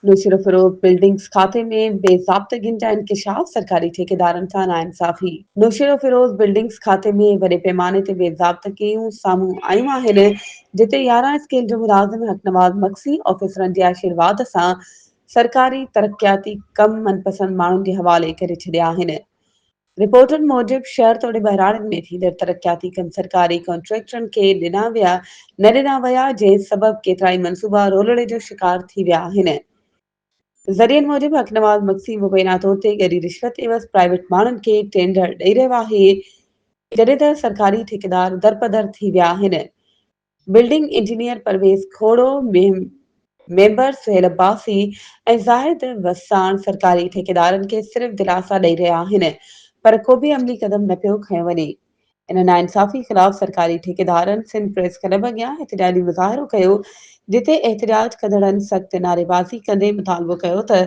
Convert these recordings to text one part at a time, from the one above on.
Naushahro Feroze buildings کاتي ۾ بي ضابطگين جا انڪشاف، سرڪاري ٺيڪيدارن سان ناانصافي. نوشهرو فروغ بلڊنگز کاتي ۾ وڏي پيماني تي بي ضابطگيون سامهون آيون آهن، جتي يارهن اسڪيل جو ملازم حق نواز مگسي آفيسرن جي آشيرواد سان سرڪاري ترقياتي ڪم من پسند ماڻهن جي حوالي ڪري ڇڏيا آهن. رپورٽن موجب شهر توڙي ٻهراڙين ۾ ٿيندڙ ترقياتي ڪم سرڪاري ڪانٽريڪٽرن کي ڏنا ويا نه ڏنا ويا جنهن سبب ڪيترائي منصوبا رولڙي جو شڪار ٿي ويا آهن. ذريعن موجب حق نواز مگسي مبينا طور تي ڳري رشوت عيوض پرائيويٽ ماڻهن کي ٽينڊر ڏئي رهيو آهي جڏهن ته سرڪاري ٺيڪيدار درپدر ٿي ويا آهن building engineer Parvez Khoso, member Sohail Abbasi ۽ Zahid Wassan سرڪاري ٺيڪيدارن کي صرف دلاسا ڏئي رهيا آهن پر ڪوبه عملي قدم نه پيو کنيو وڃي. ان ناانصافي خلاف سرڪاري ٺيڪيدارن سنڌ پريس ڪلب اڳيان احتجاجي مظاهرو ڪيو جتي احتجاج ڪندڙن سخت نعريبازي ڪندي مطالبو ڪيو ته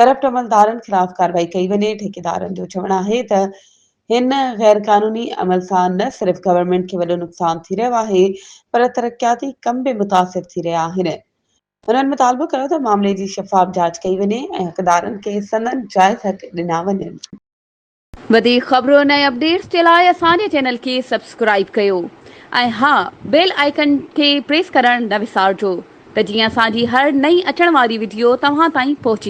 ڪرپٽ عملدارن خلاف ڪارروائي ڪئي وڃي، ٺيڪيدارن جو چوڻ آهي ته هن غير قانوني عمل سان نه صرف گورنمينٽ کي وڏو نقصان ٿي رهيو آهي پر ترقياتي ڪم به متاثر ٿي رهيا آهن. هنن مطالبو ڪيو ته معاملي جي شفاف جاچ ڪئي وڃي ۽ حقدارن کي سندن جائز حق ڏنا وڃن. وڌيڪ خبرن ۽ اپڊيٽس جي لاء اسان جي چينل کي سبسڪرائيب ڪيو ۽ ها بيل آئيڪن کي پريس ڪرڻ نه وسارجو ته جيئن اسان جي هر نئين اچڻ واري وڊيو توهان تائين پهچي.